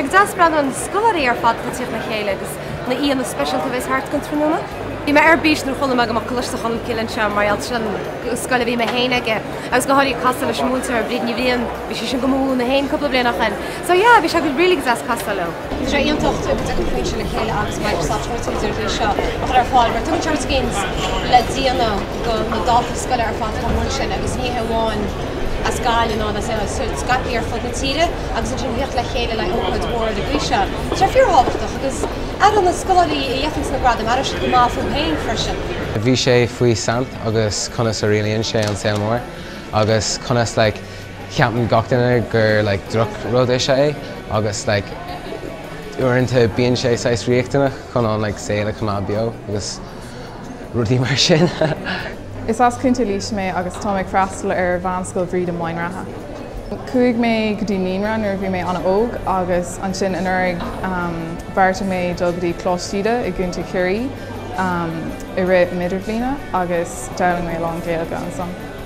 Ócáid dheas bronnadh scoláirí ar fad ag tíocht le chéile agus na aíonna speisialta a bheas thart don tráthnóna. Bhí mé ar bís nuair chuala mé go mbeadh Coláiste Cholmcille anseo mar gheall sin scoil a bhí mé féin aige agus go háirithe casadh le múinteoir Bríd Ní Bhriain, bhí sí sin dhom múineadh féin cúpla bliain ó shoin. So yeah, bhí sé really go deas casadh leo. Is rud iontach go dtiocfadh Foinse le chéile agus Microsoft leis an rud seo a chur ar fáil, mar tugann sé ábhar scéil le déanamh do na daltaí scoile ar fad chomh mór sin, agus ní hé amháin as Gaillimh ach scaipthe ar fud na tíre, agus ansin tíocht le chéile le hócáid mhór ar an gcaoi seo. Tá sé fíorthábhachtach, agus na scoláirí a fhaigheanns na gradaim, aireoidh siad go maith fúthu féin freisin. Bhí sé faoi saint agus conas a rialaíonn sé an saol mór agus conas like, Ceapann gach duine gur like droch rud is ea é agus like uaireanta bíonn sé saghas riachtanach chun an like saol a choimeád beo agus rudaí mar sin. Is as Contae Laoise mé agus táim ag freastal ar Mheánscoil Bhríde i Maighean Rátha. Chuaigh mé go dtí naíonra nuair a bhí mé an-óg agus ansin anuraidh bheartaigh mé dul go dtí Coláiste Íde i gContae Chiarraí i rith m'idirbhliana agus d'fhoghlaim mé a lán Gaeilge ansan.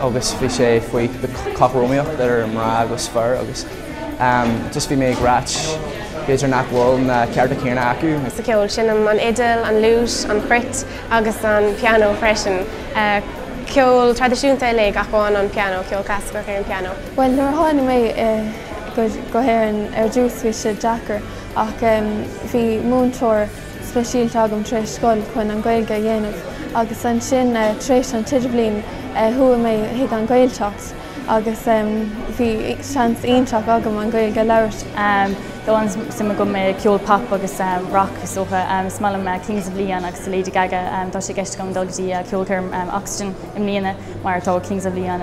agus bhí sé faoi cothromaíocht idir mná agus fir agus just bhí mé ag rá b'fhéidir nach bhfuil na cearta céanna acu. sa cheol. Seinnim an fhidil, an fhliúit, an chruit agus an pianó freisin. Ceol traidisiúnta uilig ach amháin an pianó, ceol clasaiceach ar an pianó. Bhuel nuair a tháinig mé go hÉirinn ar dtús bhí sé deacair ach bhí múinteoir, speisialta agam tar éis scoil chun an Ghaeilge a dhéanamh agus ansin tar éis an t-idirbhliain chuaigh mé chuig an Ghaeltacht agus bhí seans iontach agam an Ghaeilge a labhairt. Tá an-suim agam i gceol pop agus rac is dócha. Is maith liom Kings of Leon agus The Lady Gaga. Tá sé i gceist agam dul go dtí ceolchoirm Oxegen i mbliana mar tá Kings of Leon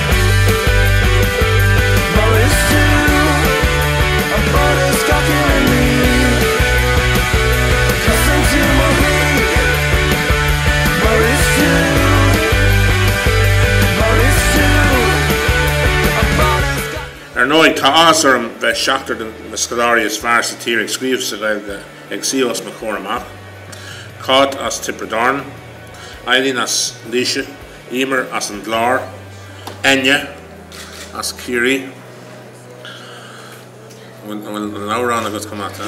Ar ndóigh, tá áthas orm bheith seachtar de na scoláirí is fearr sa tír ag scríobh sa Ghaeilge ag suí os mo chomhair amach, Cáit as Tiobraid Árann, Eileen as Laoise, Emer as an gClár, Enya as Ciarraí, an bhfuil an t-amhrán agat chomh maith? Tá.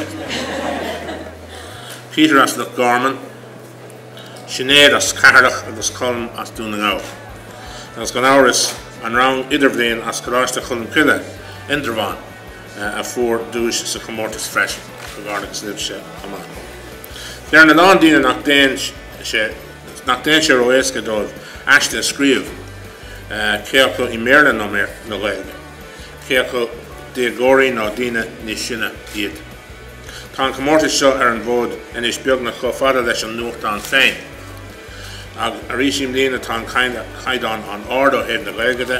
Peter as Loch Garman, Sinéad as Ceatharlach agus Colm as Dún na nGall. Agus gan amhras, an rang idirbhliain as Coláiste Cholmcille, Indreabhán, a fuair duais sa chomórtas freisin. Comhghairdeachas libhse chomh maith. Deireann a lán daoine nach dtéann sé Nach dtéann sé ró-éasca dóibh aiste a scríobh, cé acu i mBéarla nó i nGaeilge, cé acu déagóirí nó daoine níos sine iad? Tá an comórtas seo ar an bhfód anois beagnach chomh fada leis an nuachtán féin. Agus arís i mbliana tá an caighdeán an-ard ó thaobh na Gaeilge de,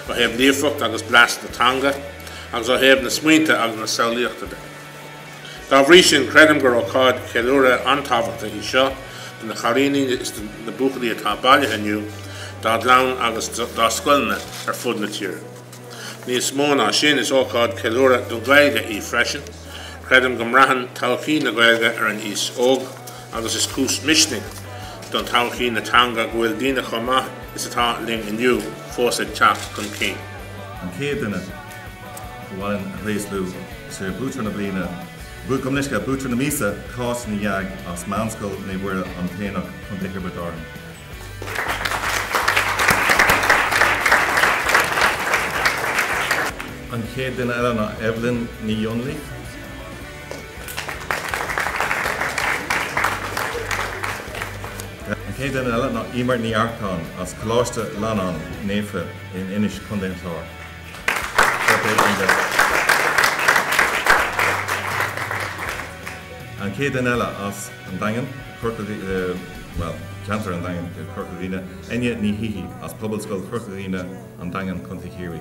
ó thaobh líofacht agus blas na teanga, agus ó thaobh na smaointe agus na samhlaíochta de. Dá bhrí sin, creidim gur ócáid cheiliúrtha an-tábhachtach í seo do na chailíní is do na buachaillí atá bailithe inniu, dá gclann agus dá scoileanna ar fud na tíre. Níos mó ná sin, is ócáid cheiliúrtha don Ghaeilge í freisin. Creidim go mbraitheann todhchaí na Gaeilge ar an aos óg agus is cúis misnigh don todhchaí na teanga go bhfuil daoine chomh maith is atá linn inniu fós ag teacht chun cinn. An chéad duine gur mhaith linn a thréaslú, sé Buaiteoir na Bliana, bua, gabh mo leithscéal, Buaiteoir na Míosa, Cáit Ní Dheaidh as Meánscoil Naomh Mhuire, An tAonach, Co. Thiobraid Árann. An chéad duine eile ná Evelyn Ní Dhonnlaigh. An chéad duine eile ná Emer Ní Earcáin as Coláiste Fhlannáin Naofa in Inis, Co. an Chláir. An chéad duine eile as an Daingean, bhuel, ceantar an Daingin, Corca Dhuibhne, Eithne Ní Shíthigh as Pobalscoil Chorca Dhuibhne, An Daingean, Co. Chiarraí.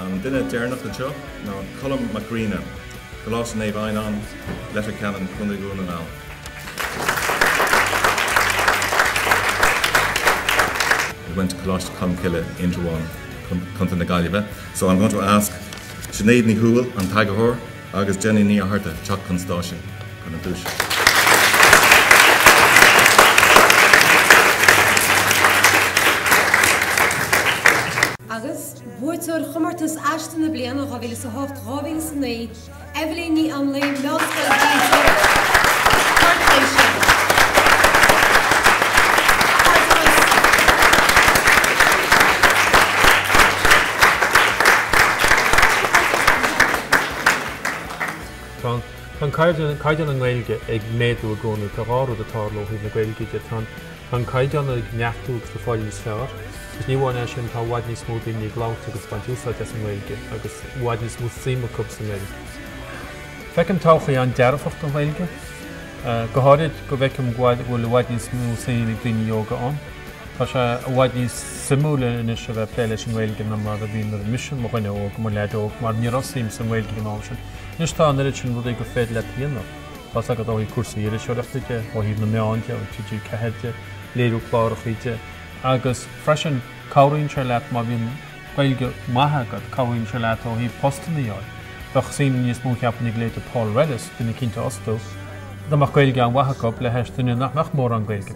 An duine deireanach anseo ná Colm Mac Grianna, Coláiste Naomh Adhamhnáin, Leitir Ceanainn, Co. Dhún na nGall. He went to Coláiste Cholmcille, Indreabhán, Co. na Gaillimhe. So I'm going to ask Sinéad Ní Thuathail, an t-eagarthóir, agus Jenny Ní Fhatharta, teacht chun stáitse chun na duaise. Agus Buaiteoir Chomórtas Aiste na Bliana 2008, 2009, Eibhlín Ní Anluain, Meánscoil Mhaigh Eo, Port Laoise. Tá caighdeán na nGaeilge ag méadú i gcónaí. Tá dhá rud ag tarlú ó thaobh na Gaeilge de. Tá an. Tá an caighdeán ag neartú agus ag fáil níos fearr. Agus ní amháin é sin, tá i bhfad níos mó daoine ag labhairt agus ag baint úsáid as an nGaeilge, agus i bhfad níos mó suim acu sa nGaeilge. Feicim todhchaí an-dearfach don Ghaeilge, go háirid go bhfeicim go bhfuil i bhfad níos mó suim ag daoine óga ann. Tá sé i bhfad níos suimiúil anois a bheith ag plé leis an nGaeilge ná mar a bhí nuair a bhí mise mo dhuine óg, mo leaid óg, mar ní raibh suim sa nGaeilge ag an am sin. Anois tá an oiread sin rudaí gur féidir leat a dhéanamh. Tá's agat ó thaobh cúrsaí iriseoireachta de, ó thaobh na meáin de, ó thaobh TG4 de, léiriú cláracha de agus freisin cabhraíonn sé leat má bhíonn Gaeilge maith agat, cabhraíonn sé leat ó thaobh postanna a fháil. Bheadh suim níos mó, cheapfainn, ag leithéide Paul Rellis, daoine cinnte a fhostú, dá mbeadh Gaeilge an-mhaith acu, le hais duine nach mbeadh mórán Gaeilge acu.